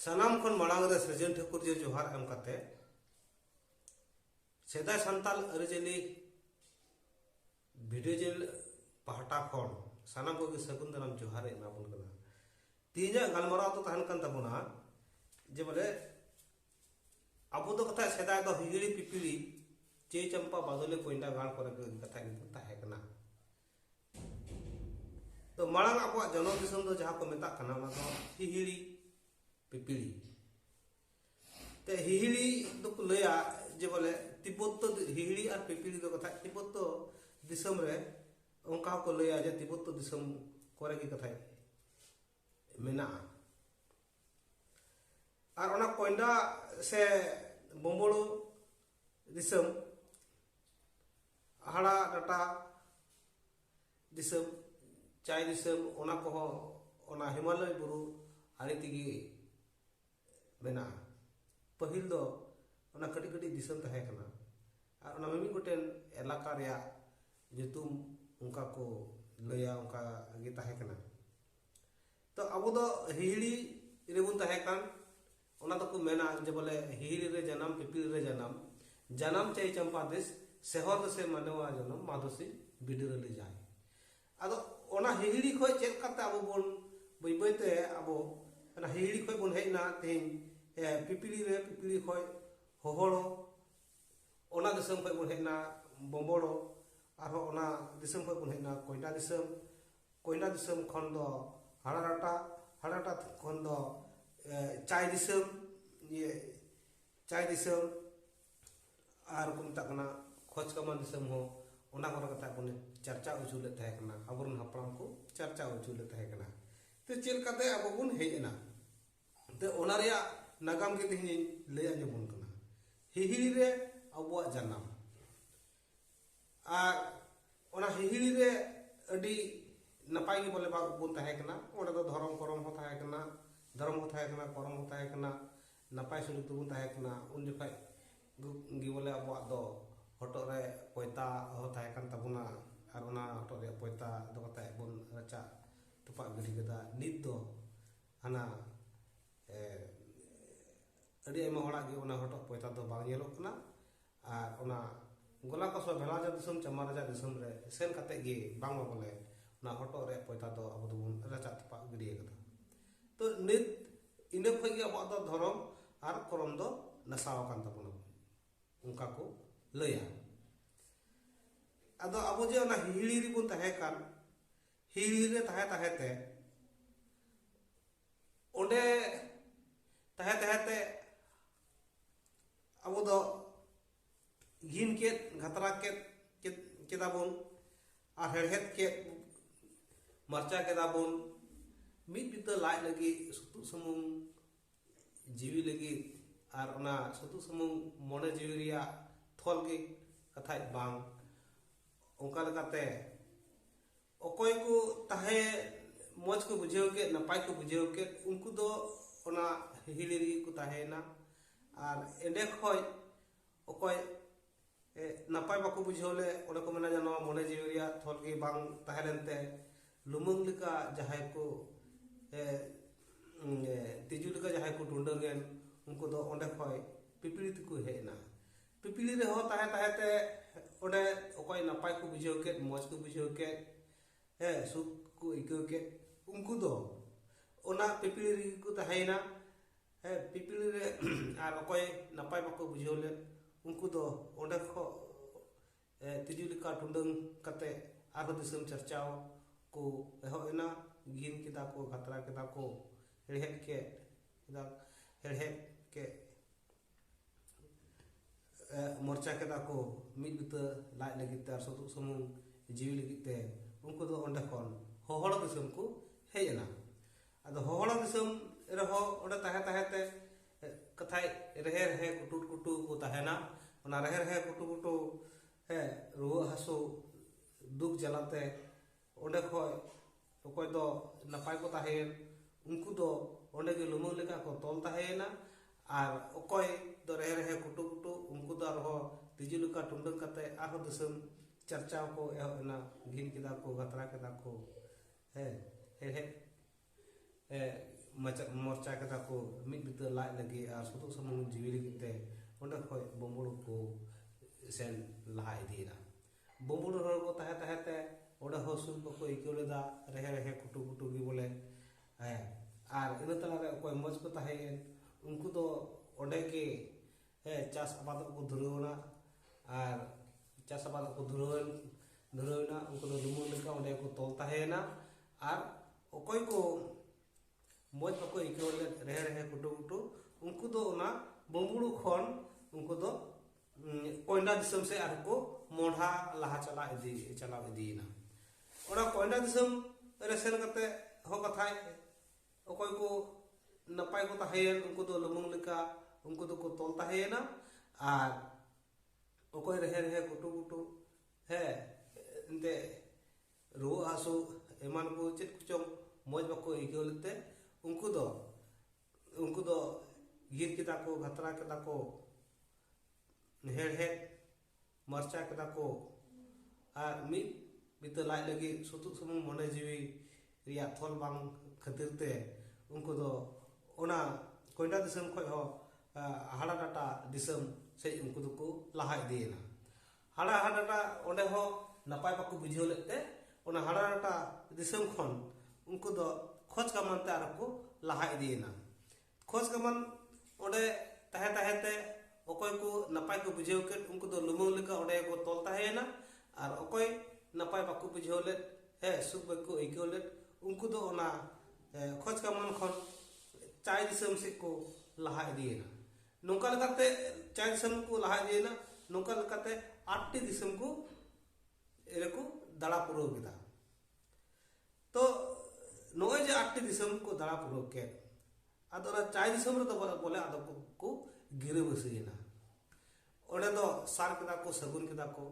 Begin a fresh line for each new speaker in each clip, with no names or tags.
ᱥᱟᱱᱟᱢ ᱠᱷᱚᱱ ᱢᱟᱲᱟᱝ ᱨᱮ ᱥᱨᱤᱡᱚᱱ ᱴᱷᱟᱹᱠᱩᱨ ᱡᱮ ᱡᱚᱦᱟᱨ ᱮᱢ ᱠᱟᱛᱮ ᱥᱮᱫᱟᱭ ᱥᱟᱱᱛᱟᱞ ᱟᱹᱨᱤᱪᱟᱹᱞᱤ ᱵᱷᱤᱰᱤᱭᱳ ᱪᱮᱱᱮᱞ ᱯᱟᱦᱴᱟ ᱠᱷᱚᱱ ᱥᱟᱱᱟᱢ ᱠᱚᱜᱮ ᱥᱟᱹᱜᱩᱱ ᱫᱟᱨᱟᱢ ᱡᱚᱦᱟᱨ ᱮᱢᱟᱵᱚᱱ ᱠᱟᱱᱟ ᱛᱮᱦᱮᱧᱟᱜ ᱜᱟᱞᱢᱟᱨᱟᱣ ᱫᱚ ᱛᱟᱦᱮᱱ ᱠᱟᱱ ᱛᱟᱵᱚᱱᱟ ᱡᱮ ᱵᱚᱞᱮ ᱟᱵᱚ ᱫᱚ ᱠᱟᱛᱷᱟ ᱥᱮᱫᱟᱭ ᱫᱚ ᱦᱤᱦᱤᱲᱤ ᱯᱤᱯᱤᱲᱤ ᱪᱮ ᱪᱟᱢᱯᱟ ᱵᱟᱫᱚᱞᱮ ᱠᱚᱭᱰᱟ ᱜᱟᱲ ᱠᱚᱨᱮ ᱜᱮ ᱠᱟᱛᱷᱟ ᱠᱤᱱᱛᱩ ᱛᱟᱦᱮᱸ ᱠᱟᱱᱟ ᱛᱚ ᱢᱟᱲᱟᱝ ᱟᱵᱚᱣᱟᱜ ᱡᱚᱱᱚᱢ ᱫᱤᱥᱚᱢ ᱫᱚ ᱡᱟᱦᱟᱸ ᱠᱚ ᱢᱮᱛᱟᱜ ᱠᱟᱱᱟ ᱚᱱᱟ ᱫᱚ ᱦᱤᱦᱤᱲᱤ ᱯᱤᱯᱤᱲᱤ ᱛᱮ ᱦᱤᱦᱤᱲᱤ ᱫᱚᱠᱚ ᱞᱟᱹᱭᱟ ᱡᱮ ᱵᱚᱞᱮ ᱛᱤᱵᱵᱚᱛ ᱫᱚ ᱦᱤᱦᱤᱲᱤ ᱟᱨ ᱯᱤᱯᱤᱲᱤ ᱫᱚ ᱠᱟᱛᱷᱟ ᱛᱤᱵᱵᱚᱛ ᱫᱚ ᱫᱤᱥᱚᱢ ᱨᱮ ᱚᱱᱠᱟ ᱦᱚᱸᱠᱚ ᱞᱟᱹᱭᱟ ᱡᱮ ᱛᱤᱵᱵᱚᱛ ᱫᱤᱥᱚᱢ ᱠᱚᱨᱮ ᱜᱮ ᱠᱟᱛᱷᱟ ᱢᱮᱱᱟᱜᱼᱟ ᱟᱨ ᱚᱱᱟ ᱠᱚᱭᱰᱟ ᱥᱮ ᱵᱚᱢᱵᱚᱲᱩ ᱫᱤᱥᱚᱢ ᱦᱟᱲᱟ ᱰᱟᱴᱟ ᱫᱤᱥᱚᱢ ᱪᱟᱭ ᱫᱤᱥᱚᱢ ᱚᱱᱟ ᱠᱚᱦᱚᱸ ᱚᱱᱟ ᱦᱤᱢᱟᱞᱚᱭ ᱵᱩᱨᱩ ᱟᱲᱮ ᱛᱮᱜᱮ ᱢᱮᱱᱟᱜᱼᱟ ᱯᱟᱹᱦᱤᱞ ᱫᱚ ᱚᱱᱟ ᱠᱟᱹᱴᱤᱡ ᱠᱟᱹᱴᱤᱡ ᱫᱤᱥᱚᱢ ᱛᱟᱦᱮᱸ ᱠᱟᱱᱟ ᱟᱨ ᱚᱱᱟ ᱢᱤᱢᱤᱫ ᱜᱚᱴᱮᱱ ᱮᱞᱟᱠᱟ ᱨᱮᱭᱟᱜ ᱧᱩᱛᱩᱢ ᱚᱱᱠᱟ ᱠᱚ ᱞᱟᱹᱭᱟ ᱚᱱᱠᱟ ᱜᱮ ᱛᱟᱦᱮᱸ ᱠᱟᱱᱟ ᱛᱚ ᱟᱵᱚ ᱫᱚ ᱦᱤᱦᱤᱲᱤ ᱨᱮᱵᱚᱱ ᱛᱟᱦᱮᱸ ᱠᱟᱱ ᱚᱱᱟ ᱫᱚᱠᱚ ᱢᱮᱱᱟ ᱡᱮ ᱵᱚᱞᱮ ᱦᱤᱦᱤᱲᱤ ᱨᱮ ᱡᱟᱱᱟᱢ ᱯᱤᱯᱤᱲ ᱨᱮ ᱡᱟᱱᱟᱢ ᱡᱟᱱᱟᱢ ᱪᱟᱹᱭ ᱪᱟᱢᱯᱟ ᱫᱮᱥ ᱥᱮᱦᱚᱨ ᱫᱮᱥᱮ ᱢᱟᱱᱣᱟ ᱡᱚᱱᱚᱢ ᱢᱟᱫᱚᱥᱤ ᱵᱤᱰᱤᱨ ᱟᱹᱰᱤ ᱡᱟᱭ ᱟᱫᱚ ᱚᱱᱟ ᱦᱤᱦᱤᱲᱤ ᱠᱷᱚᱡ ᱪᱮᱫ ᱞᱮᱠᱟᱛᱮ ᱟᱵᱚ ᱵᱚᱱ ᱵᱟᱹᱭ ᱵᱟᱹᱭ ᱛᱮ ᱟᱵᱚ ᱚᱱᱟ ᱦᱤᱦᱤᱲᱤ ᱠᱷᱚᱡ ᱵᱚᱱ ᱦᱮᱡ ᱮᱱᱟ ᱛᱮᱦᱮᱧ ᱯᱤᱯᱤᱲᱤ ᱨᱮ ᱯᱤᱯᱤᱲᱤ ᱠᱷᱚᱡ ᱦᱚᱦᱚᱲᱚ ᱚᱱᱟ ᱫᱤᱥᱚᱢ ᱠᱷᱚᱡ ᱵᱚᱱ ᱦᱮᱡ ᱮᱱᱟ ᱵᱚᱢᱵᱚᱲᱚ ᱟᱨᱦᱚᱸ ᱚᱱᱟ ᱫᱤᱥᱚᱢ ᱠᱷᱚᱡ ᱵᱚᱱ ᱦᱮᱡ ᱮᱱᱟ ᱠᱚᱭᱰᱟ ᱫᱤᱥᱚᱢ ᱠᱚᱭᱞᱟ ᱫᱤᱥᱚᱢ ᱠᱷᱚᱱ ᱫᱚ ᱦᱟᱲᱟᱨᱟᱴᱟ ᱦᱟᱲᱟᱨᱟᱴᱟ ᱠᱷᱚᱱ ᱫᱚ ᱪᱟᱭ ᱫᱤᱥᱚᱢ ᱤᱭᱟᱹ ᱪᱟᱭ ᱫᱤᱥᱚᱢ ᱟᱨ ᱠᱚ ᱢᱮᱛᱟᱜ ᱠᱟᱱᱟ ᱠᱷᱚᱡᱽ ᱠᱟᱢᱟᱱ ᱫᱤᱥᱚᱢ ᱦᱚᱸ ᱚᱱᱟ ᱠᱚᱨᱮ ᱠᱟᱛᱷᱟ ᱠᱚ ᱪᱟᱨᱪᱟ ᱦᱚᱪᱚ ᱞᱮᱫ ᱛᱟᱦᱮᱸ ᱠᱟᱱᱟ ᱟᱵᱚᱨᱮᱱ ᱦᱟᱯᱲᱟᱢ ᱠᱚ ᱪᱟᱨᱪᱟ ᱦᱚᱪᱚ ᱞᱮᱫ ᱛᱟᱦᱮᱸ ᱠᱟᱱᱟ ᱛᱚ ᱪᱮᱫ ᱞᱮᱠᱟᱛᱮ ᱟᱵᱚ ᱵᱚᱱ ᱦᱮᱡ ᱮᱱᱟ ᱛᱚ ᱚᱱᱟ ᱨᱮᱭᱟᱜ ᱱᱟᱜᱟᱢ ᱜᱮ ᱛᱮᱦᱮᱧ ᱞᱟᱹᱭ ᱟᱸᱡᱚᱢ ᱵᱚᱱ ᱠᱟᱱᱟ ᱦᱤᱦᱤᱲᱤ ᱨᱮ ᱟᱵᱚᱣᱟᱜ ᱡᱟᱱᱟᱢ ᱟᱨ ᱚᱱᱟ ᱦᱤᱦᱤᱲᱤ ᱨᱮ ᱟᱹᱰᱤ ᱱᱟᱯᱟᱭ ᱜᱮ ᱵᱚᱞᱮ ᱵᱚᱱ ᱛᱟᱦᱮᱸ ᱠᱟᱱᱟ ᱚᱸᱰᱮ ᱫᱚ ᱫᱷᱚᱨᱚᱢ ᱠᱚᱨᱚᱢ ᱦᱚᱸ ᱛᱟᱦᱮᱸ ᱠᱟᱱᱟ ᱫᱷᱚᱨᱚᱢ ᱦᱚᱸ ᱛᱟᱦᱮᱸ ᱠᱟᱱᱟ ᱠᱚᱨᱚᱢ ᱦᱚᱸ ᱛᱟᱦᱮᱸ ᱠᱟᱱᱟ ᱱᱟᱯᱟᱭ ᱥᱩᱞᱩᱠ ᱛᱮᱵᱚᱱ ᱛᱟᱦᱮᱸ ᱠᱟᱱᱟ ᱩᱱ ᱡᱚᱠᱷᱟᱡ ᱜᱮ ᱵᱚᱞᱮ ᱟᱵᱚᱣᱟᱜ ᱫᱚ ᱦᱚᱴᱚᱜ ᱨᱮ ᱯᱚᱭᱛᱟ ᱦᱚᱸ ᱛᱟᱦᱮᱸ ᱠᱟᱱ ᱛᱟᱵᱚᱱᱟ ᱟᱨ ᱚᱱᱟ ᱦᱚᱴᱚᱜ ᱨᱮᱭᱟᱜ ᱯᱚᱭᱛᱟ ᱫᱚ ᱠᱟᱛᱮ ᱵᱚᱱ ᱨᱟᱪᱟ ᱛᱚᱯᱟᱜ ᱜᱤᱰᱤ ᱠᱮᱫᱟ ᱱᱤᱛ ᱫᱚ ᱦᱟᱱᱟ ᱟᱹᱰᱤ ᱟᱭᱢᱟ ᱦᱚᱲᱟᱜ ᱜᱮ ᱚᱱᱟ ᱦᱚᱴᱚᱜ ᱯᱚᱭᱛᱟ ᱫᱚ ᱵᱟᱝ ᱧᱮᱞᱚᱜ ᱠᱟᱱᱟ ᱟᱨ ᱚᱱᱟ ᱜᱚᱞᱟ ᱠᱚ ᱥᱚ ᱵᱷᱮᱲᱟ ᱡᱟ ᱫᱤᱥᱚᱢ ᱪᱟᱢᱟ ᱨᱟᱡᱟ ᱫᱤᱥᱚᱢ ᱨᱮ ᱥᱮᱱ ᱠᱟᱛᱮ ᱜᱮ ᱵᱟᱝ ᱵᱚᱞᱮ ᱚᱱᱟ ᱦᱚᱴᱚᱜ ᱨᱮ ᱯᱚᱭᱛᱟ ᱫᱚ ᱟᱵᱚ ᱫᱚᱵᱚᱱ ᱨᱟᱪᱟ ᱛᱚᱯᱟ ᱜᱤᱰᱤ ᱟᱠᱟᱫᱟ ᱛᱚ ᱱᱤᱛ ᱤᱱᱟᱹ ᱠᱷᱚᱱ ᱜᱮ ᱟᱵᱚᱣᱟᱜ ᱫᱚ ᱫᱷᱚᱨᱚᱢ ᱟᱨ ᱠᱚᱨᱚᱢ ᱫᱚ ᱱᱟᱥᱟᱣ ᱟᱠᱟᱱ ᱛᱟᱵᱚᱱᱟ ᱚᱱᱠᱟ ᱠᱚ ᱞᱟᱹᱭᱟ ᱟᱫᱚ ᱟᱵᱚ ᱡᱮ ᱚᱱᱟ ᱦᱤᱦᱤᱲᱤ ᱨᱮᱵᱚᱱ ᱛᱟᱦᱮᱸ ᱠᱟᱱ ᱦᱤᱦᱤᱲᱤ ᱨᱮ ᱛᱟᱦᱮᱸ ᱛᱟᱦᱮᱸ ᱛᱮ ᱚᱸᱰᱮ ᱛᱟᱦᱮᱸ ᱛᱟᱦᱮᱸ ᱛᱮ ᱟᱵᱚ ᱫᱚ ᱜᱤᱱ ᱠᱮᱫ ᱜᱷᱟᱛᱨᱟ ᱠᱮᱫ ᱠᱮᱫᱟ ᱵᱚᱱ ᱟᱨ ᱦᱮᱲᱦᱮᱫ ᱠᱮᱫ ᱢᱟᱨᱪᱟ ᱠᱮᱫᱟ ᱵᱚᱱ ᱢᱤᱫ ᱵᱤᱛᱟᱹ ᱞᱟᱡ ᱞᱟᱹᱜᱤᱫ ᱥᱩᱛᱩᱜ ᱥᱩᱢᱩᱝ ᱡᱤᱣᱤ ᱞᱟᱹᱜᱤᱫ ᱟᱨ ᱚᱱᱟ ᱥᱩᱛᱩᱜ ᱥᱩᱢᱩᱝ ᱢᱚᱱᱮ ᱡᱤᱣᱤ ᱨᱮᱭᱟᱜ ᱛᱷᱚᱞ ᱜᱮ ᱠᱟᱛᱷᱟᱡ ᱵᱟᱝ ᱚᱱᱠᱟ ᱞᱮᱠᱟᱛᱮ ᱚᱠᱚᱭ ᱠᱚ ᱛᱟᱦᱮ ᱢᱚᱡᱽ ᱠᱚ ᱵᱩᱡᱷᱟᱹᱣ ᱠᱮᱫ ᱱᱟᱯᱟᱭ ᱠᱚ ᱵᱩᱡᱷᱟᱹᱣ ᱠᱮᱫ ᱩᱱᱠᱩ ᱫᱚ ᱚᱱᱟ ᱦᱤᱦᱤᱲᱤ ᱨᱮᱜᱮ ᱠᱚ ᱛᱟᱦᱮᱸᱭᱮᱱᱟ ᱟᱨ ᱮᱸᱰᱮ ᱠᱷᱚᱡ ᱚᱠᱚᱭ ᱱᱟᱯᱟᱭ ᱵᱟᱠᱚ ᱵᱩᱡᱷᱟᱹᱣ ᱞᱮ ᱚᱸᱰᱮ ᱠᱚ ᱢᱮᱱᱟ ᱡᱮ ᱱᱚᱣᱟ ᱢᱚᱱᱮ ᱡᱤᱣᱤ ᱨᱮᱭᱟᱜ ᱛᱷᱚᱞ ᱜᱮ ᱵᱟᱝ ᱛᱟᱦᱮᱸ ᱞᱮᱱᱛᱮ ᱞᱩᱢᱟᱹᱝ ᱞᱮᱠᱟ ᱡᱟᱦᱟᱸᱭ ᱠᱚ ᱛᱤᱡᱩ ᱞᱮᱠᱟ ᱡᱟᱦᱟᱸᱭ ᱠᱚ ᱰᱩᱸᱰᱟᱹᱝ ᱮᱱ ᱩᱱᱠᱩ ᱫᱚ ᱚᱸᱰᱮ ᱠᱷᱚᱡ ᱯᱤᱯᱤᱲᱤ ᱛᱮᱠᱚ ᱦᱮᱡ ᱮᱱᱟ ᱯᱤᱯᱤᱞᱤ ᱨᱮᱦᱚᱸ ᱛᱟᱦᱮᱸ ᱛᱟᱦᱮᱸ ᱛᱮ ᱚᱸᱰᱮ ᱚᱠᱚᱭ ᱱᱟᱯᱟᱭ ᱠᱚ ᱵᱩᱡᱷᱟᱹᱣ ᱠᱮᱫ ᱢᱚᱡᱽ ᱠᱚ ᱵᱩᱡᱷᱟᱹᱣ ᱠᱮᱫ ᱦᱮᱸ ᱥᱩᱠ ᱠᱚ ᱟᱹᱭᱠᱟᱹᱣ ᱠᱮᱫ ᱩᱱᱠᱩ ᱫᱚ ᱚᱱᱟ ᱯᱤᱯᱤᱞᱤ ᱨᱮᱜᱮ ᱠᱚ ᱛᱟᱦᱮᱸᱭᱮᱱᱟ ᱦᱮᱸ ᱯᱤᱯᱤᱞᱤ ᱨᱮ ᱟᱨ ᱚᱠᱚᱭ ᱱᱟᱯᱟᱭ ᱵᱟᱠᱚ ᱵᱩᱡᱷᱟᱹᱣ ᱞᱮᱫ ᱩᱱᱠᱩ ᱫᱚ ᱚᱸᱰᱮ ᱠᱷᱚᱱ ᱛᱤᱡᱩ ᱞᱮᱠᱟ ᱴᱩᱰᱟᱹᱝ ᱠᱟᱛᱮ ᱟᱨᱦᱚᱸ ᱫᱤᱥᱚᱢ ᱪᱟᱨᱪᱟᱣ ᱠᱚ ᱮᱦᱚᱵ ᱮᱱᱟ ᱜᱤᱱ ᱠᱮᱫᱟ ᱠᱚ ᱠᱷᱟᱛᱨᱟ ᱠᱮᱫᱟ ᱠᱚ ᱦᱮᱲᱦᱮᱫ ᱠᱮᱫ ᱠᱮᱫᱟ ᱦᱮᱲᱦᱮᱫ ᱠᱮᱫ ᱢᱚᱨᱪᱟ ᱠᱮᱫᱟ ᱠᱚ ᱢᱤᱫ ᱵᱤᱛᱟᱹ ᱞᱟᱡ ᱞᱟᱹᱜᱤᱫ ᱛᱮ ᱟᱨ ᱥᱩᱛᱩᱜ ᱥᱩᱢᱩᱝ ᱡᱤᱣᱤ ᱞᱟᱹᱜᱤᱫ ᱛᱮ ᱩᱱᱠᱩ ᱫᱚ ᱚᱸᱰᱮ ᱠᱷᱚᱱ ᱦᱚᱦᱚᱲᱟ ᱫᱤᱥᱚᱢ ᱠᱚ ᱦᱮᱡ ᱮᱱᱟ ᱟᱫᱚ ᱦᱚᱦᱚᱲᱟ ᱫᱤᱥᱚᱢ ᱨᱮᱦᱚᱸ ᱚᱸᱰᱮ ᱛᱟᱦᱮᱸ ᱛᱟᱦᱮᱸ ᱛᱮ ᱠᱟᱛᱷᱟᱭ ᱨᱮᱦᱮ ᱨᱮᱦᱮ ᱠᱩᱴᱩ ᱠᱩᱴᱩ ᱠᱚ ᱛᱟᱦᱮᱱᱟ ᱚᱱᱟ ᱨᱮᱦᱮ ᱨᱮᱦᱮ ᱠᱩᱴᱩ ᱠᱩᱴᱩ ᱦᱮ ᱨᱩᱣᱟᱹ ᱦᱟᱹᱥᱩ ᱫᱩᱠ ᱡᱟᱞᱟᱛᱮ ᱚᱸᱰᱮ ᱠᱷᱚᱡ ᱚᱠᱚᱭ ᱫᱚ ᱱᱟᱯᱟᱭ ᱠᱚ ᱛᱟᱦᱮᱸᱭᱮᱱ ᱩᱱᱠᱩ ᱫᱚ ᱚᱸᱰᱮ ᱜᱮ ᱞᱩᱢᱟᱹᱝ ᱞᱮᱠᱟ ᱠᱚ ᱛᱚᱞ ᱛᱟᱦᱮᱸᱭᱮᱱᱟ ᱟᱨ ᱚᱠᱚᱭ ᱫᱚ ᱨᱮᱦᱮ ᱨᱮᱦᱮ ᱠᱩᱴᱩ ᱠᱩᱴᱩ ᱩᱱᱠᱩ ᱫᱚ ᱟᱨᱦᱚᱸ ᱛᱤᱡᱩ ᱞᱮᱠᱟ ᱴᱩᱸᱰᱟᱹᱝ ᱠᱟᱛᱮ ᱟᱨᱦᱚᱸ ᱫᱤᱥᱚᱢ ᱪᱟᱨᱪᱟᱣ ᱠᱚ ᱮᱦᱚᱵ ᱮᱱᱟ ᱜᱷᱤᱱ ᱠᱮᱫᱟ ᱠᱚ ᱜᱟᱛᱨᱟ ᱠᱮᱫᱟ ᱠᱚ ᱦᱮᱸ ᱦᱮᱲᱦᱮᱫ ᱢᱚᱨᱪᱟ ᱠᱮᱫᱟ ᱠᱚ ᱢᱤᱫ ᱵᱤᱛᱟᱹ ᱞᱟᱡ ᱞᱟᱹᱜᱤᱫ ᱟᱨ ᱥᱩᱛᱩᱜ ᱥᱩᱢᱩᱝ ᱡᱤᱣᱤ ᱞᱟᱹᱜᱤᱫ ᱛᱮ ᱚᱸᱰᱮ ᱠᱷᱚᱱ ᱵᱩᱢᱵᱩᱲ ᱠᱚ ᱥᱮᱱ ᱞᱟᱦᱟ ᱤᱫᱤᱭᱮᱱᱟ ᱵᱩᱢᱵᱩᱲ ᱦᱚᱲ ᱠᱚ ᱛᱟᱦᱮᱸ ᱛᱟᱦᱮᱸ ᱛᱮ ᱚᱸᱰᱮ ᱦᱚᱸ ᱥᱩᱠ ᱵᱟᱠᱚ ᱟᱹᱭᱠᱟᱹᱣ ᱞᱮᱫᱟ ᱨᱮᱦᱮ ᱨᱮᱦᱮ ᱠᱩᱴᱩ ᱠᱩᱴᱩ ᱜᱮ ᱵᱚᱞᱮ ᱦᱮᱸ ᱟᱨ ᱤᱱᱟᱹ ᱛᱟᱞᱟᱨᱮ ᱚᱠᱚᱭ ᱢᱚᱡᱽ ᱠᱚ ᱛᱟᱦᱮᱸᱭᱮᱱ ᱩᱱᱠᱩ ᱫᱚ ᱚᱸᱰᱮ ᱜᱮ ᱦᱮᱸ ᱪᱟᱥ ᱟᱵᱟᱫ ᱠᱚ ᱫᱷᱩᱨᱟᱹᱣ ᱮᱱᱟ ᱟᱨ ᱪᱟᱥ ᱟᱵᱟᱫ ᱠᱚ ᱫᱷᱩᱨᱟᱹᱣ ᱫᱷᱩᱨᱟᱹᱣ ᱮᱱᱟ ᱩᱱᱠᱩ ᱫᱚ ᱞᱩᱢᱩᱝ ᱞᱮᱠᱟ ᱚᱸᱰᱮ ᱠᱚ ᱛᱚᱞ ᱛᱟᱦᱮᱸᱭᱮᱱᱟ ᱟᱨ ᱚᱠᱚᱭ ᱠᱚ ᱢᱚᱡᱽ ᱵᱟᱠᱚ ᱟᱹᱭᱠᱟᱹᱣ ᱞᱮᱫ ᱨᱮᱦᱮ ᱨᱮᱦᱮ ᱠᱩᱴᱩ ᱠᱩᱴᱩ ᱩᱱᱠᱩ ᱫᱚ ᱚᱱᱟ ᱵᱩᱢᱵᱩᱲᱩ ᱠᱷᱚᱱ ᱩᱱᱠᱩ ᱫᱚ ᱠᱚᱭᱰᱟ ᱫᱤᱥᱚᱢ ᱥᱮ ᱟᱨ ᱠᱚ ᱢᱚᱰᱷᱟ ᱞᱟᱦᱟ ᱪᱟᱞᱟᱣ ᱤᱫᱤ ᱪᱟᱞᱟᱣ ᱤᱫᱤᱭᱮᱱᱟ ᱚᱱᱟ ᱠᱚᱭᱰᱟ ᱫᱤᱥᱚᱢ ᱨᱮ ᱥᱮᱱ ᱠᱟᱛᱮ ᱦᱚᱸ ᱠᱟᱛᱷᱟᱭ ᱚᱠᱚᱭ ᱠᱚ ᱱᱟᱯᱟᱭ ᱠᱚ ᱛᱟᱦᱮᱸᱭᱮᱱ ᱩᱱᱠᱩ ᱫᱚ ᱞᱩᱢᱩᱝ ᱞᱮᱠᱟ ᱩᱱᱠᱩ ᱫᱚᱠᱚ ᱛᱚᱞ ᱛᱟᱦᱮᱸᱭᱮᱱᱟ ᱟᱨ ᱚᱠᱚᱭ ᱨᱮᱦᱮ ᱨᱮᱦᱮ ᱜᱩᱴᱩ ᱜᱩᱴᱩ ᱦᱮᱸ ᱮᱱᱛᱮ ᱨᱩᱣᱟᱹ ᱦᱟᱹᱥᱩ ᱮᱢᱟᱱ ᱠᱚ ᱪᱮᱫ ᱠᱚᱪᱚᱝ ᱢᱚᱡᱽ ᱵᱟᱠᱚ ᱟᱹᱭᱠᱟᱹᱣ ᱞᱮᱫ ᱛᱮ ᱩᱱᱠᱩ ᱫᱚ ᱩᱱᱠᱩ ᱫᱚ ᱜᱤᱨ ᱠᱮᱫᱟ ᱠᱚ ᱜᱷᱟᱛᱨᱟ ᱠᱮᱫᱟ ᱠᱚ ᱦᱮᱲᱦᱮᱫ ᱢᱚᱨᱪᱟ ᱠᱮᱫᱟ ᱠᱚ ᱟᱨ ᱢᱤᱫ ᱵᱤᱛᱟᱹ ᱞᱟᱡ ᱞᱟᱹᱜᱤᱫ ᱥᱩᱛᱩᱜ ᱥᱩᱢᱩᱝ ᱢᱚᱱᱮ ᱡᱤᱣᱤ ᱨᱮᱭᱟᱜ ᱛᱷᱚᱞ ᱵᱟᱝ ᱠᱷᱟᱹᱛᱤᱨ ᱛᱮ ᱩᱱᱠᱩ ᱫᱚ ᱚᱱᱟ ᱠᱚᱭᱰᱟ ᱫᱤᱥᱚᱢ ᱠᱷᱚᱱ ᱦᱚᱸ ᱦᱟᱲᱟ ᱰᱟᱴᱟ ᱫᱤᱥᱚᱢ ᱥᱮᱡ ᱩᱱᱠᱩ ᱫᱚᱠᱚ ᱞᱟᱦᱟ ᱤᱫᱤᱭᱮᱱᱟ ᱦᱟᱲᱟ ᱦᱟᱰᱟᱴᱟ ᱚᱸᱰᱮ ᱦᱚᱸ ᱱᱟᱯᱟᱭ ᱵᱟᱠᱚ ᱵᱩᱡᱷᱟᱹᱣ ᱞᱮᱫ ᱛᱮ ᱚᱱᱟ ᱦᱟᱲᱟ ᱰᱟᱴᱟ ᱫᱤᱥᱚᱢ ᱠᱷᱚᱱ ᱩᱱᱠᱩ ᱫᱚ ᱠᱷᱚᱡᱽ ᱠᱟᱢᱟᱱ ᱛᱮ ᱟᱨᱦᱚᱸ ᱠᱚ ᱞᱟᱦᱟ ᱤᱫᱤᱭᱮᱱᱟ ᱠᱷᱚᱡᱽ ᱠᱟᱢᱟᱱ ᱚᱸᱰᱮ ᱛᱟᱦᱮᱸ ᱛᱟᱦᱮᱸ ᱛᱮ ᱚᱠᱚᱭ ᱠᱚ ᱱᱟᱯᱟᱭ ᱠᱚ ᱵᱩᱡᱷᱟᱹᱣ ᱠᱮᱫ ᱩᱱᱠᱩ ᱫᱚ ᱞᱩᱢᱟᱹᱝ ᱞᱮᱠᱟ ᱚᱸᱰᱮ ᱠᱚ ᱛᱚᱞ ᱛᱟᱦᱮᱸᱭᱮᱱᱟ ᱟᱨ ᱚᱠᱚᱭ ᱱᱟᱯᱟᱭ ᱵᱟᱠᱚ ᱵᱩᱡᱷᱟᱹᱣ ᱞᱮᱫ ᱦᱮᱸ ᱥᱩᱠ ᱵᱟᱠᱚ ᱟᱹᱭᱠᱟᱹᱣ ᱞᱮᱫ ᱩᱱᱠᱩ ᱫᱚ ᱚᱱᱟ ᱠᱷᱚᱡᱽ ᱠᱟᱢᱟᱱ ᱠᱷᱚᱱ ᱪᱟᱭ ᱫᱤᱥᱚᱢ ᱥᱮᱫ ᱠᱚ ᱞᱟᱦᱟ ᱤᱫᱤᱭᱮᱱᱟ ᱱᱚᱝᱠᱟ ᱞᱮᱠᱟᱛᱮ ᱪᱟᱭ ᱫᱤᱥᱚᱢ ᱠᱚ ᱞᱟᱦᱟ ᱤᱫᱤᱭᱮᱱᱟ ᱱᱚᱝᱠᱟ ᱞᱮᱠᱟᱛᱮ ᱟᱴᱴᱤ ᱫᱤᱥᱚᱢ ᱠᱚ ᱨᱮᱠᱚ ᱫᱟᱬᱟ ᱯᱩᱨᱟᱹᱣ ᱠᱮᱫᱟ ᱛᱚ ᱱᱚᱜᱼᱚᱭ ᱡᱮ ᱟᱴᱴᱤ ᱫᱤᱥᱚᱢ ᱠᱚ ᱫᱟᱬᱟ ᱯᱩᱨᱟᱹᱣ ᱠᱮᱫ ᱟᱫᱚ ᱚᱱᱟ ᱪᱟᱭ ᱫᱤᱥᱚᱢ ᱨᱮᱫᱚ ᱵᱚᱞᱮ ᱟᱫᱚ ᱠᱚ ᱜᱤᱨᱟᱹᱵᱟᱹᱥᱤᱭᱮᱱᱟ ᱚᱸᱰᱮ ᱫᱚ ᱥᱟᱨ ᱠᱮᱫᱟ ᱠᱚ ᱥᱟᱹᱜᱩᱱ ᱠᱮᱫᱟ ᱠᱚ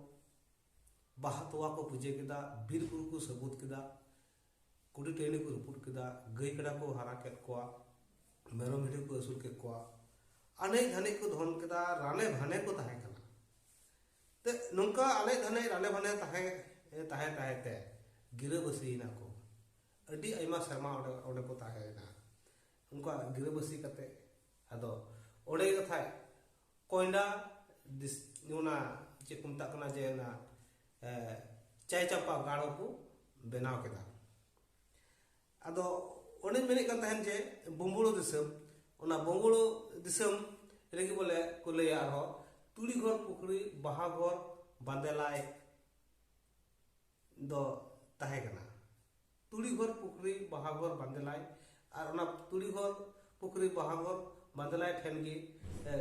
ᱵᱟᱦᱟ ᱛᱚᱣᱟ ᱠᱚ ᱯᱩᱡᱟᱹ ᱠᱮᱫᱟ ᱵᱤᱨ ᱵᱩᱨᱩ ᱠᱚ ᱥᱟᱹᱵᱩᱫ ᱠᱮᱫᱟ ᱠᱩᱰᱤ ᱴᱟᱺᱰᱤ ᱠᱚ ᱨᱟᱹᱯᱩᱫ ᱠᱮᱫᱟ ᱜᱟᱹᱭ ᱠᱟᱰᱟ ᱠᱚ ᱦᱟᱨᱟ ᱠᱮᱫ ᱠᱚᱣᱟ ᱢᱮᱨᱚᱢ ᱵᱷᱤᱰᱤ ᱠᱚ ᱟᱹᱥᱩᱞ ᱠᱮᱫ ᱠᱚᱣᱟ ᱟᱱᱮᱡ ᱫᱷᱟᱱᱮᱡ ᱠᱚ ᱫᱷᱚᱱ ᱠᱮᱫᱟ ᱨᱟᱱᱮ ᱵᱷᱟᱱᱮ ᱠᱚ ᱛᱟᱦᱮᱸ ᱠᱟᱱᱟ ᱛᱮ ᱱᱚᱝᱠᱟ ᱟᱞᱮ ᱫᱷᱟᱱᱮ ᱨᱟᱞᱮ ᱵᱷᱟᱱᱮ ᱛᱟᱦᱮᱸ ᱛᱟᱦᱮᱸ ᱛᱟᱦᱮᱸ ᱛᱮ ᱜᱤᱨᱟᱹ ᱵᱟᱹᱥᱤᱭᱮᱱᱟ ᱠᱚ ᱟᱹᱰᱤ ᱟᱭᱢᱟ ᱥᱮᱨᱢᱟ ᱚᱸᱰᱮ ᱚᱸᱰᱮ ᱠᱚ ᱛᱟᱦᱮᱸᱭᱮᱱᱟ ᱩᱱᱠᱟ ᱜᱤᱨᱟᱹ ᱵᱟᱹᱥᱤ ᱠᱟᱛᱮ ᱟᱫᱚ ᱚᱸᱰᱮ ᱠᱟᱛᱷᱟ ᱠᱚᱭᱰᱟ ᱫᱤᱥ ᱚᱱᱟ ᱪᱮᱫ ᱠᱚ ᱢᱮᱛᱟᱜ ᱠᱟᱱᱟ ᱡᱮ ᱚᱱᱟ ᱪᱟᱭ ᱪᱟᱯᱟ ᱜᱟᱲ ᱠᱚ ᱵᱮᱱᱟᱣ ᱠᱮᱫᱟ ᱟᱫᱚ ᱚᱱᱮᱧ ᱢᱮᱱᱮᱫ ᱠᱟᱱ ᱛᱟᱦᱮᱱ ᱡᱮ ᱵᱚᱢᱵᱩᱲᱳ ᱫᱤᱥᱚᱢ ᱚᱱᱟ ᱵᱚᱢᱵᱩᱲᱳ ᱫᱤᱥᱚᱢ ᱨᱮᱜᱮ ᱵᱚᱞᱮ ᱠᱚ ᱞᱟᱹᱭᱟ ᱟᱨᱦᱚᱸ ᱛᱩᱲᱤ ᱜᱷᱚᱨ ᱯᱩᱠᱷᱨᱤ ᱵᱟᱦᱟ ᱜᱷᱚᱨ ᱵᱟᱸᱫᱮᱞᱟᱭ ᱫᱚ ᱛᱟᱦᱮᱸ ᱠᱟᱱᱟ ᱛᱩᱲᱤ ᱜᱷᱚᱨ ᱯᱩᱠᱷᱨᱤ ᱵᱟᱦᱟ ᱜᱷᱚᱨ ᱵᱟᱸᱫᱮᱞᱟᱭ ᱟᱨ ᱚᱱᱟ ᱛᱩᱲᱤ ᱜᱷᱚᱨ ᱯᱩᱠᱷᱨᱤ ᱵᱟᱦᱟ ᱜᱷᱚᱨ ᱵᱟᱸᱫᱮᱞᱟᱭ ᱴᱷᱮᱱ ᱜᱮ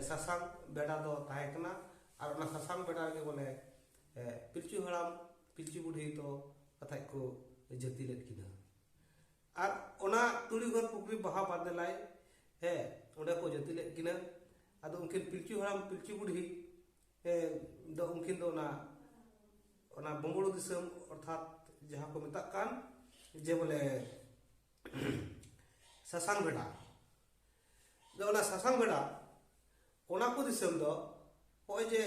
ᱥᱟᱥᱟᱝ ᱵᱮᱰᱟ ᱫᱚ ᱛᱟᱦᱮᱸ ᱠᱟᱱᱟ ᱟᱨ ᱚᱱᱟ ᱥᱟᱥᱟᱝ ᱵᱮᱰᱟ ᱨᱮᱜᱮ ᱵᱚᱞᱮ ᱯᱤᱞᱪᱩ ᱦᱟᱲᱟᱢ ᱯᱤᱞᱪᱩ ᱵᱩᱰᱷᱤ ᱫᱚ ᱠᱟᱛᱷᱟᱡ ᱠᱚ ᱡᱟᱹᱛᱤ ᱞᱮᱫ ᱠᱤᱱᱟ ᱟᱨ ᱚᱱᱟ ᱛᱩᱲᱤ ᱜᱷᱚᱨ ᱯᱩᱠᱷᱨᱤ ᱵᱟᱦᱟ ᱵᱟᱫᱮᱞᱟᱭ ᱦᱮ ᱚᱸᱰᱮ ᱠᱚ ᱡᱟᱹᱛᱤ ᱞᱮᱫ ᱠᱤᱱᱟ ᱟᱫᱚ ᱩᱱᱠᱤᱱ ᱯᱤᱞᱪᱩ ᱦᱟᱲᱟᱢ ᱯᱤᱞᱪᱩ ᱵᱩᱰᱷᱤ ᱫᱚ ᱩᱱᱠᱤᱱ ᱫᱚ ᱚᱱᱟ ᱚᱱᱟ ᱵᱚᱝᱜᱚᱞ ᱫᱤᱥᱚᱢ ᱚᱨᱛᱷᱟᱛ ᱡᱟᱦᱟᱸ ᱠᱚ ᱢᱮᱛᱟᱜ ᱠᱟᱱ ᱡᱮ ᱵᱚᱞᱮ ᱥᱟᱥᱟᱝ ᱵᱮᱰᱟ ᱫᱚ ᱚᱱᱟ ᱥᱟᱥᱟᱝ ᱵᱮᱲᱟ ᱚᱱᱟ ᱠᱚ ᱫᱤᱥᱚᱢ ᱫᱚ ᱱᱚᱜᱼᱚᱭ ᱡᱮ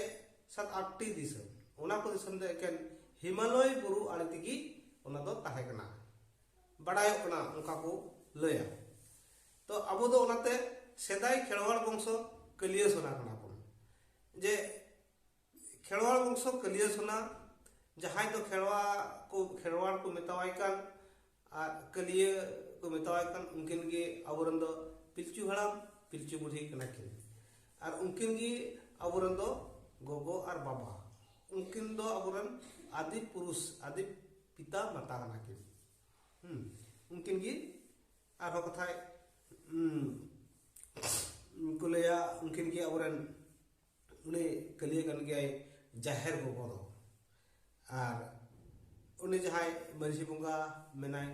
ᱥᱟᱛ ᱟᱴᱴᱤ ᱫᱤᱥᱚᱢ ᱚᱱᱟ ᱠᱚ ᱫᱤᱥᱚᱢ ᱫᱚ ᱮᱠᱮᱱ ᱦᱤᱢᱟᱞᱚᱭ ᱵᱩᱨᱩ ᱟᱲᱮ ᱛᱮᱜᱮ ᱚᱱᱟ ᱫᱚ ᱛᱟᱦᱮᱸ ᱠᱟᱱᱟ ᱵᱟᱲᱟᱭᱚᱜ ᱠᱟᱱᱟ ᱚᱱᱠᱟ ᱠᱚ ᱞᱟᱹᱭᱟ ᱛᱚ ᱟᱵᱚ ᱫᱚ ᱚᱱᱟᱛᱮ ᱥᱮᱫᱟᱭ ᱠᱷᱮᱲᱣᱟᱲ ᱵᱚᱝᱥᱚ ᱠᱟᱹᱞᱤᱭᱟᱹ ᱥᱚᱱᱟ ᱠᱟᱱᱟ ᱵᱚᱱ ᱡᱮ ᱠᱷᱮᱲᱣᱟᱲ ᱵᱚᱝᱥᱚ ᱠᱟᱹᱞᱤᱭᱟᱹ ᱥᱚᱱᱟ ᱡᱟᱦᱟᱸᱭ ᱫᱚ ᱠᱷᱮᱲᱣᱟ ᱠᱚ ᱠᱷᱮᱲᱣᱟᱲ ᱠᱚ ᱢᱮᱛᱟᱣᱟᱭ ᱠᱟᱱ ᱟᱨ ᱠᱟᱹᱞᱤᱭᱟᱹ ᱠᱚ ᱢᱮᱛᱟᱣᱟᱭ ᱠᱟᱱ ᱩᱱᱠᱤᱱ ᱜᱮ ᱟᱵᱚᱨᱮᱱ ᱫᱚ ᱯᱤᱞᱪᱩ ᱦᱟᱲᱟᱢ ᱯᱤᱞᱪᱩ ᱵᱩᱲᱦᱤ ᱠᱟᱱᱟ ᱠᱤᱱ ᱟᱨ ᱩᱱᱠᱤᱱ ᱜᱮ ᱟᱵᱚᱨᱮᱱ ᱫᱚ ᱜᱚᱜᱚ ᱟᱨ ᱵᱟᱵᱟ ᱩᱱᱠᱤᱱ ᱫᱚ ᱟᱵᱚᱨᱮᱱ ᱟᱫᱤ ᱯᱩᱨᱩᱥ ᱟᱫᱤ ᱯᱤᱛᱟ ᱢᱟᱛᱟ ᱠᱟᱱᱟ ᱠᱤᱱ ᱦᱩᱸ ᱩᱱᱠᱤᱱ ᱜᱮ ᱟᱨᱦᱚᱸ ᱠᱟᱛᱷᱟᱭ ᱠᱚ ᱞᱟᱹᱭᱟ ᱩᱱᱠᱤᱱ ᱜᱮ ᱟᱵᱚᱨᱮᱱ ᱩᱱᱤ ᱠᱟᱹᱞᱤᱭᱟᱹ ᱠᱟᱱ ᱜᱮᱭᱟᱭ ᱡᱟᱦᱮᱨ ᱜᱚᱜᱚ ᱫᱚ ᱟᱨ ᱩᱱᱤ ᱡᱟᱦᱟᱸᱭ ᱢᱟᱹᱡᱷᱤ ᱵᱚᱸᱜᱟ ᱢᱮᱱᱟᱭ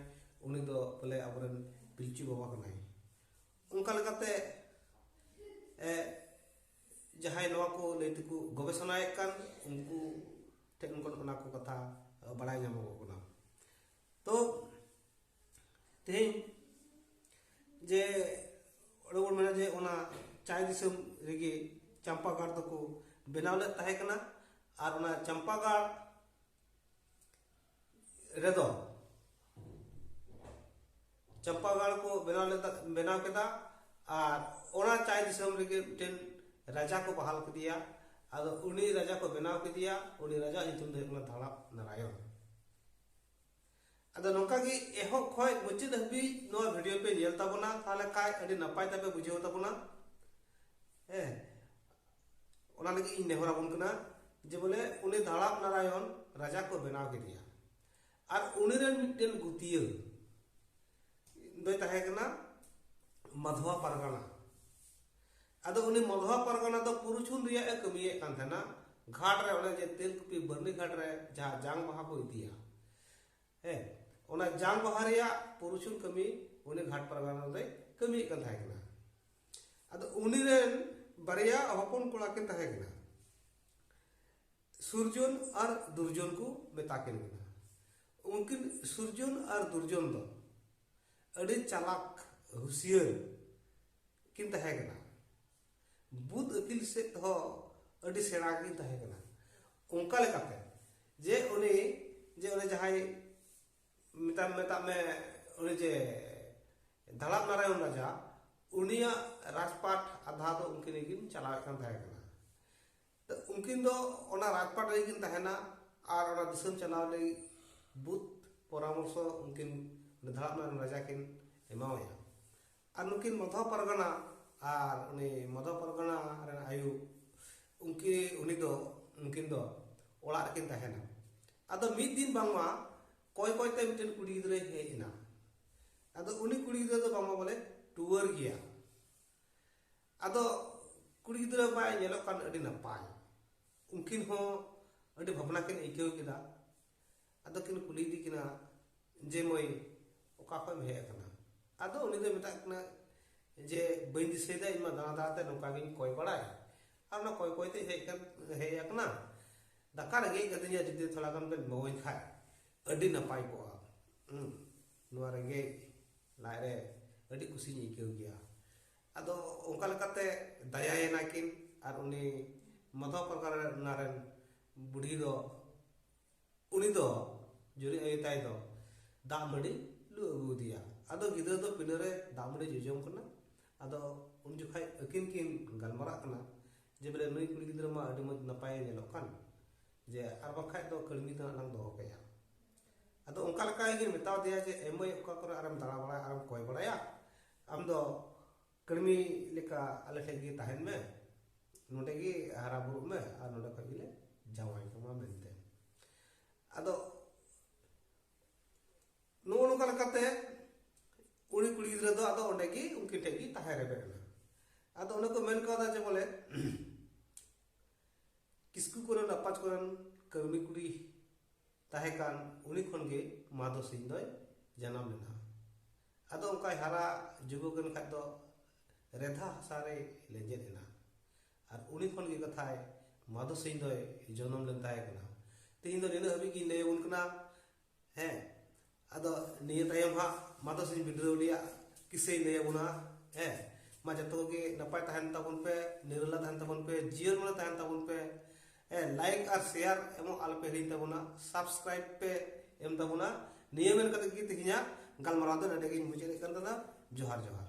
ᱩᱱᱤ ᱫᱚ ᱯᱟᱞᱮ ᱟᱵᱚᱨᱮᱱ ᱯᱤᱞᱪᱩ ᱵᱟᱵᱟ ᱠᱟᱱᱟᱭ ᱚᱱᱠᱟ ᱞᱮᱠᱟᱛᱮ ᱡᱟᱦᱟᱸᱭ ᱱᱚᱣᱟ ᱠᱚ ᱞᱟᱹᱭ ᱛᱮᱠᱚ ᱜᱚᱵᱮᱥᱚᱱᱟᱭᱮᱫ ᱠᱟᱱ ᱩᱱᱠᱩ ᱴᱷᱮᱱ ᱠᱷᱚᱱ ᱚᱱᱟ ᱠᱚ ᱠᱟᱛᱷᱟ ᱵᱟᱲᱟᱭ ᱧᱟᱢᱚᱜᱚᱜ ᱠᱟᱱᱟ ᱛᱚ ᱛᱮᱦᱮᱧ ᱡᱮ ᱚᱸᱰᱮ ᱵᱚᱱ ᱢᱮᱱᱟ ᱡᱮ ᱚᱱᱟ ᱪᱟᱭ ᱫᱤᱥᱚᱢ ᱨᱮᱜᱮ ᱪᱟᱢᱯᱟ ᱜᱟᱲ ᱫᱚᱠᱚ ᱵᱮᱱᱟᱣ ᱞᱮᱫ ᱛᱟᱦᱮᱸ ᱠᱟᱱᱟ ᱟᱨ ᱚᱱᱟ ᱪᱟᱢᱯᱟ ᱜᱟᱲ ᱨᱮᱫᱚ ᱪᱟᱢᱯᱟ ᱜᱟᱲ ᱠᱚ ᱵᱮᱱᱟᱣ ᱞᱮᱫᱟ ᱵᱮᱱᱟᱣ ᱠᱮᱫᱟ ᱟᱨ ᱚᱱᱟ ᱪᱟᱭ ᱫᱤᱥᱚᱢ ᱨᱮᱜᱮ ᱢᱤᱫᱴᱮᱱ ᱨᱟᱡᱟ ᱠᱚ ᱵᱟᱦᱟᱞ ᱠᱮᱫᱮᱭᱟ ᱟᱫᱚ ᱩᱱᱤ ᱨᱟᱡᱟ ᱠᱚ ᱵᱮᱱᱟᱣ ᱠᱮᱫᱮᱭᱟ ᱩᱱᱤ ᱨᱟᱡᱟ ᱧᱩᱛᱩᱢ ᱫᱚ ᱦᱩᱭᱩᱜ ᱠᱟᱱᱟ ᱫᱷᱟᱲᱟᱯ ᱱᱟᱨᱟᱭᱚᱱ ᱟᱫᱚ ᱱᱚᱝᱠᱟ ᱜᱮ ᱮᱦᱚᱵ ᱠᱷᱚᱡ ᱢᱩᱪᱟᱹᱫ ᱦᱟᱹᱵᱤᱡ ᱱᱚᱣᱟ ᱵᱷᱤᱰᱤᱭᱳ ᱯᱮ ᱧᱮᱞ ᱛᱟᱵᱚᱱᱟ ᱛᱟᱦᱞᱮ ᱠᱷᱟᱡ ᱟᱹᱰᱤ ᱱᱟᱯᱟᱭ ᱛᱮᱯᱮ ᱵᱩᱡᱷᱟᱹᱣ ᱛᱟᱵᱚᱱᱟ ᱦᱮᱸ ᱚᱱᱟ ᱞᱟᱹᱜᱤᱫ ᱤᱧ ᱱᱮᱦᱚᱨ ᱟᱵᱚᱱ ᱠᱟᱱᱟ ᱡᱮ ᱵᱚᱞᱮ ᱩᱱᱤ ᱫᱷᱟᱲᱟᱯ ᱱᱟᱨᱟᱭᱚᱱ ᱨᱟᱡᱟ ᱠᱚ ᱵᱮᱱᱟᱣ ᱠᱮᱫᱮᱭᱟ ᱟᱨ ᱩᱱᱤ ᱨᱮᱱ ᱢᱤᱫᱴᱮᱱ ᱜᱩᱛᱤᱭᱟᱹ ᱫᱚᱭ ᱛᱟᱦᱮᱸ ᱠᱟᱱᱟ ᱢᱟᱫᱷᱣᱟ ᱯᱟᱨᱜᱟᱱᱟ ᱟᱫᱚ ᱩᱱᱤ ᱢᱚᱫᱷᱣᱟ ᱯᱟᱨᱜᱟᱱᱟ ᱫᱚ ᱯᱩᱨᱩᱪᱷᱩᱱ ᱨᱮᱭᱟᱜ ᱮ ᱠᱟᱹᱢᱤᱭᱮᱫ ᱠᱟᱱ ᱛᱟᱦᱮᱱᱟ ᱜᱷᱟᱴ ᱨᱮ ᱚᱱᱮ ᱡᱮ ᱛᱮᱞᱠᱩᱯᱤ ᱵᱟᱹᱨᱱᱤ ᱜᱷᱟᱴ ᱨᱮ ᱡᱟᱦᱟᱸ ᱡᱟᱝ ᱵᱟᱦᱟ ᱠᱚ ᱤᱫᱤᱭᱟ ᱦᱮᱸ ᱚᱱᱟ ᱡᱟᱝ ᱵᱟᱦᱟ ᱨᱮᱭᱟᱜ ᱯᱩᱨᱩᱪᱷᱩᱱ ᱠᱟᱹᱢᱤ ᱩᱱᱤ ᱜᱷᱟᱴ ᱯᱟᱨᱜᱟᱱᱟ ᱨᱮᱭ ᱠᱟᱹᱢᱤᱭᱮᱫ ᱠᱟᱱ ᱛᱟᱦᱮᱸ ᱠᱟᱱᱟ ᱟᱫᱚ ᱩᱱᱤ ᱨᱮᱱ ᱵᱟᱨᱭᱟ ᱦᱚᱯᱚᱱ ᱠᱚᱲᱟ ᱠᱤᱱ ᱛᱟᱦᱮᱸ ᱠᱟᱱᱟ ᱥᱩᱨᱡᱚᱱ ᱟᱨ ᱫᱩᱨᱡᱚᱱ ᱠᱚ ᱢᱮᱛᱟ ᱠᱤᱱ ᱠᱟᱱᱟ ᱩᱱᱠᱤᱱ ᱥᱩᱨᱡᱚᱱ ᱟᱨ ᱫᱩᱨᱡᱚᱱ ᱫᱚ ᱟᱹᱰᱤ ᱪᱟᱞᱟᱠ ᱦᱩᱥᱤᱭᱟᱹᱨ ᱠᱤᱱ ᱛᱟᱦᱮᱸ ᱠᱟᱱᱟ ᱵᱩᱫ ᱟᱹᱠᱤᱞ ᱥᱮᱫ ᱦᱚᱸ ᱟᱹᱰᱤ ᱥᱮᱬᱟ ᱜᱮ ᱛᱟᱦᱮᱸ ᱠᱟᱱᱟ ᱚᱱᱠᱟ ᱞᱮᱠᱟᱛᱮ ᱡᱮ ᱩᱱᱤ ᱡᱮ ᱩᱱᱤ ᱡᱟᱦᱟᱸᱭ ᱢᱮᱛᱟᱢ ᱢᱮᱛᱟᱜ ᱢᱮ ᱩᱱᱤ ᱡᱮ ᱫᱟᱲᱟᱵ ᱱᱟᱨᱟᱭᱚᱱ ᱨᱟᱡᱟ ᱩᱱᱤᱭᱟᱜ ᱨᱟᱡᱽᱯᱟᱴ ᱟᱫᱷᱟ ᱫᱚ ᱩᱱᱠᱤᱱ ᱜᱮᱠᱤᱱ ᱪᱟᱞᱟᱣᱮᱫ ᱠᱟᱱ ᱛᱟᱦᱮᱸ ᱠᱟᱱᱟ ᱛᱚ ᱩᱱᱠᱤᱱ ᱫᱚ ᱚᱱᱟ ᱨᱟᱡᱽᱯᱟᱴ ᱨᱮᱜᱮ ᱠᱤᱱ ᱛᱟᱦᱮᱱᱟ ᱟᱨ ᱚᱱᱟ ᱫᱤᱥᱚᱢ ᱪᱟᱞᱟᱣ ᱞᱟᱹᱜᱤᱫ ᱵᱩᱫ ᱯᱚᱨᱟᱢᱚᱨᱥᱚ ᱩᱱᱠᱤᱱ ᱫᱟᱲᱟᱵ ᱱᱟᱨᱟᱭᱚᱱ ᱨᱟᱡᱟ ᱠᱤᱱ ᱮᱢᱟᱣᱟᱭᱟ ᱟᱨ ᱱᱩᱠᱤᱱ ᱢᱚᱫᱷᱚ ᱯᱟᱨᱜᱟᱱᱟ ᱟᱨ ᱩᱱᱤ ᱢᱚᱫᱷᱚ ᱯᱟᱨᱜᱟᱱᱟ ᱨᱮᱱ ᱟᱭᱩ ᱩᱱᱠᱤ ᱩᱱᱤ ᱫᱚ ᱩᱱᱠᱤᱱ ᱫᱚ ᱚᱲᱟᱜ ᱨᱮᱠᱤᱱ ᱛᱟᱦᱮᱱᱟ ᱟᱫᱚ ᱢᱤᱫ ᱫᱤᱱ ᱵᱟᱝᱢᱟ ᱠᱚᱭ ᱠᱚᱭ ᱛᱮ ᱢᱤᱫᱴᱮᱱ ᱠᱩᱲᱤ ᱜᱤᱫᱽᱨᱟᱹᱭ ᱦᱮᱡ ᱮᱱᱟ ᱟᱫᱚ ᱩᱱᱤ ᱠᱩᱲᱤ ᱜᱤᱫᱽᱨᱟᱹ ᱫᱚ ᱵᱟᱝᱢᱟ ᱵᱚᱞᱮ ᱴᱩᱣᱟᱹᱨ ᱜᱮᱭᱟ ᱟᱫᱚ ᱠᱩᱲᱤ ᱜᱤᱫᱽᱨᱟᱹ ᱵᱟᱭ ᱧᱮᱞᱚᱜ ᱠᱟᱱ ᱟᱹᱰᱤ ᱱᱟᱯᱟᱭ ᱩᱱᱠᱤᱱ ᱦᱚᱸ ᱟᱹᱰᱤ ᱵᱷᱟᱵᱽᱱᱟ ᱠᱤᱱ ᱟᱹᱭᱠᱟᱹᱣ ᱠᱮᱫᱟ ᱟᱫᱚ ᱠᱤᱱ ᱠᱩᱞᱤ ᱤᱫᱤ ᱠᱤᱱᱟ ᱡᱮ ᱢᱟᱹᱭ ᱚᱠᱟ ᱠᱷᱚᱱ ᱮᱢ ᱦᱮᱡ ᱟᱠᱟᱱᱟ ᱟᱫᱚ ᱩᱱᱤ ᱫᱚᱭ ᱢᱮᱛᱟᱜ ᱠᱤᱱᱟ ᱡᱮ ᱵᱟᱹᱧ ᱫᱤᱥᱟᱹᱭᱮᱫᱟ ᱤᱧ ᱢᱟ ᱫᱟᱬᱟ ᱫᱟᱬᱟᱛᱮ ᱱᱚᱝᱠᱟ ᱜᱤᱧ ᱠᱚᱭ ᱵᱟᱲᱟᱭ ᱟᱨ ᱚᱱᱟ ᱠᱚᱭ ᱠᱚᱭᱛᱮ ᱦᱮᱡ ᱠᱟᱱ ᱦᱮᱡ ᱟᱠᱟᱱᱟ ᱫᱟᱠᱟ ᱨᱮᱸᱜᱮᱡ ᱠᱟᱹᱫᱤᱧᱟ ᱡᱩᱫᱤ ᱛᱷᱚᱲᱟ ᱜᱟᱱ ᱵᱮᱱ ᱮᱢᱟᱹᱧ ᱠᱷᱟᱡ ᱟᱹᱰᱤ ᱱᱟᱯᱟᱭ ᱠᱚᱜᱼᱟ ᱱᱚᱣᱟ ᱨᱮᱸᱜᱮᱡ ᱞᱟᱡ ᱨᱮ ᱟᱹᱰᱤ ᱠᱩᱥᱤᱧ ᱟᱹᱭᱠᱟᱹᱣ ᱜᱮᱭᱟ ᱟᱫᱚ ᱚᱱᱠᱟ ᱞᱮᱠᱟᱛᱮ ᱫᱟᱭᱟᱭᱮᱱᱟ ᱠᱤᱱ ᱟᱨ ᱩᱱᱤ ᱢᱟᱫᱷᱚᱣ ᱯᱟᱨᱜᱟᱱᱟ ᱨᱮᱱ ᱵᱩᱰᱷᱤ ᱫᱚ ᱩᱱᱤ ᱫᱚ ᱡᱩᱨᱤ ᱟᱭᱳ ᱛᱟᱭ ᱫᱚ ᱫᱟᱜ ᱢᱟᱹᱰᱤ ᱞᱩ ᱟᱹᱜᱩ ᱟᱫᱮᱭᱟ ᱟᱫᱚ ᱜᱤᱫᱽᱨᱟᱹ ᱫᱚ ᱯᱤᱱᱟᱹ ᱨᱮ ᱫᱟᱜ ᱢᱟᱹᱰᱤ ᱡᱚᱡᱚᱢ ᱠᱟᱱᱟ ᱟᱫᱚ ᱩᱱ ᱡᱚᱠᱷᱟᱡ ᱟᱹᱠᱤᱱ ᱠᱤᱱ ᱜᱟᱞᱢᱟᱨᱟᱜ ᱠᱟᱱᱟ ᱡᱮ ᱵᱚᱞᱮ ᱱᱩᱭ ᱠᱩᱲᱤ ᱜᱤᱫᱽᱨᱟᱹ ᱢᱟ ᱟᱹᱰᱤ ᱢᱚᱡᱽ ᱱᱟᱯᱟᱭ ᱧᱮᱞᱚᱜ ᱠᱟᱱ ᱡᱮ ᱟᱨ ᱵᱟᱝᱠᱷᱟᱡ ᱫᱚ ᱠᱟᱹᱲᱢᱤ ᱫᱚ ᱦᱟᱸᱜ ᱞᱟᱝ ᱫᱚᱦᱚ ᱠᱟᱭᱟ ᱟᱫᱚ ᱚᱱᱠᱟ ᱞᱮᱠᱟ ᱜᱮ ᱢᱮᱛᱟᱣ ᱫᱮᱭᱟ ᱡᱮ ᱮᱢᱟᱹᱭ ᱚᱠᱟ ᱠᱚᱨᱮ ᱟᱨᱮᱢ ᱫᱟᱬᱟ ᱵᱟᱲᱟᱭᱟ ᱟᱨᱮᱢ ᱠᱚᱭ ᱵᱟᱲᱟᱭᱟ ᱟᱢ ᱫᱚ ᱠᱟᱹᱲᱢᱤ ᱞᱮᱠᱟ ᱟᱞᱮ ᱴᱷᱮᱱ ᱜᱮ ᱛᱟᱦᱮᱱ ᱢᱮ ᱱᱚᱰᱮ ᱜᱮ ᱦᱟᱨᱟ ᱵᱩᱨᱩᱜ ᱢᱮ ᱟᱨ ᱱᱚᱰᱮ ᱠᱷᱚᱱ ᱜᱮᱞᱮ ᱡᱟᱶᱟᱭ ᱠᱟᱢᱟ ᱢᱮᱱᱛᱮ ᱟᱫᱚ ᱱᱚᱜᱼᱚ ᱱᱚᱝᱠᱟ ᱞᱮᱠᱟᱛᱮ ᱩᱱᱤ ᱠᱩᱲᱤ ᱜᱤᱫᱽᱨᱟᱹ ᱫᱚ ᱟᱫᱚ ᱚᱸᱰᱮ ᱜᱮ ᱩᱱᱠᱤᱱ ᱴᱷᱮᱱ ᱜᱮ ᱛᱟᱦᱮᱸ ᱨᱮᱵᱮᱫ ᱮᱱᱟ ᱟᱫᱚ ᱚᱱᱮ ᱠᱚ ᱢᱮᱱ ᱠᱟᱣᱫᱟ ᱡᱮ ᱵᱚᱞᱮ ᱠᱤᱥᱠᱩ ᱠᱚᱨᱮᱱ ᱟᱯᱟᱡᱽ ᱠᱚᱨᱮᱱ ᱠᱟᱹᱨᱢᱤ ᱠᱩᱲᱤ ᱛᱟᱦᱮᱸ ᱠᱟᱱ ᱩᱱᱤ ᱠᱷᱚᱱ ᱜᱮ ᱢᱟᱫᱚ ᱥᱤᱝ ᱫᱚᱭ ᱡᱟᱱᱟᱢ ᱞᱮᱱᱟ ᱟᱫᱚ ᱚᱱᱠᱟᱭ ᱦᱟᱨᱟ ᱡᱩᱜᱩᱜ ᱮᱱ ᱠᱷᱟᱡ ᱫᱚ ᱨᱮᱫᱷᱟ ᱦᱟᱥᱟ ᱨᱮ ᱞᱮᱸᱡᱮᱫ ᱮᱱᱟ ᱟᱨ ᱩᱱᱤ ᱠᱷᱚᱱ ᱜᱮ ᱠᱟᱛᱷᱟᱭ ᱢᱟᱫᱚ ᱥᱤᱝ ᱫᱚᱭ ᱡᱚᱱᱚᱢ ᱞᱮᱱ ᱛᱟᱦᱮᱸ ᱠᱟᱱᱟ ᱛᱮᱦᱮᱧ ᱫᱚ ᱱᱤᱱᱟᱹᱜ ᱦᱟᱹᱵᱤᱡ ᱜᱤᱧ ᱞᱟᱹᱭ ᱟᱵᱚᱱ ᱠᱟᱱᱟ ᱦᱮᱸ ᱟᱫᱚ ᱱᱤᱭᱟᱹ ᱛᱟᱭᱚᱢ ᱦᱟᱸᱜ ᱢᱟᱫᱚ ᱥᱤᱧ ᱵᱤᱰᱨᱟᱹᱣᱞᱤᱭᱟᱜ ᱠᱤᱥᱟᱹᱭ ᱞᱟᱹᱭ ᱟᱵᱚᱱᱟ ᱦᱮᱸ ᱢᱟ ᱡᱚᱛᱚ ᱜᱮ ᱱᱟᱯᱟᱭ ᱛᱟᱦᱮᱱ ᱛᱟᱵᱚᱱ ᱯᱮ ᱱᱤᱨᱟᱹᱞᱟ ᱛᱟᱦᱮᱱ ᱛᱟᱵᱚᱱ ᱯᱮ ᱡᱤᱭᱚᱱ ᱢᱚᱱᱮ ᱛᱟᱦᱮᱱ ᱛᱟᱵᱚᱱ ᱯᱮ ᱦᱮᱸ ᱞᱟᱭᱤᱠ ᱟᱨ ᱥᱮᱭᱟᱨ ᱮᱢᱚᱜ ᱟᱞᱚᱯᱮ ᱦᱤᱲᱤᱧ ᱛᱟᱵᱚᱱᱟ ᱥᱟᱵᱥᱠᱨᱟᱭᱤᱵ ᱯᱮ ᱮᱢ ᱛᱟᱵᱚᱱᱟ ᱱᱤᱭᱟᱹ ᱢᱮᱱ ᱠᱟᱛᱮ ᱜᱮ ᱛᱮᱦᱮᱧᱟᱜ ᱜᱟᱞᱢᱟᱨᱟᱣ ᱫᱚ ᱱᱚᱰᱮ ᱜᱤᱧ ᱢᱩᱪᱟᱹᱫ ᱮᱫ ᱠᱟᱱ ᱛᱟᱦᱮᱱᱟ ᱡᱚᱦᱟᱨ ᱡᱚᱦᱟᱨ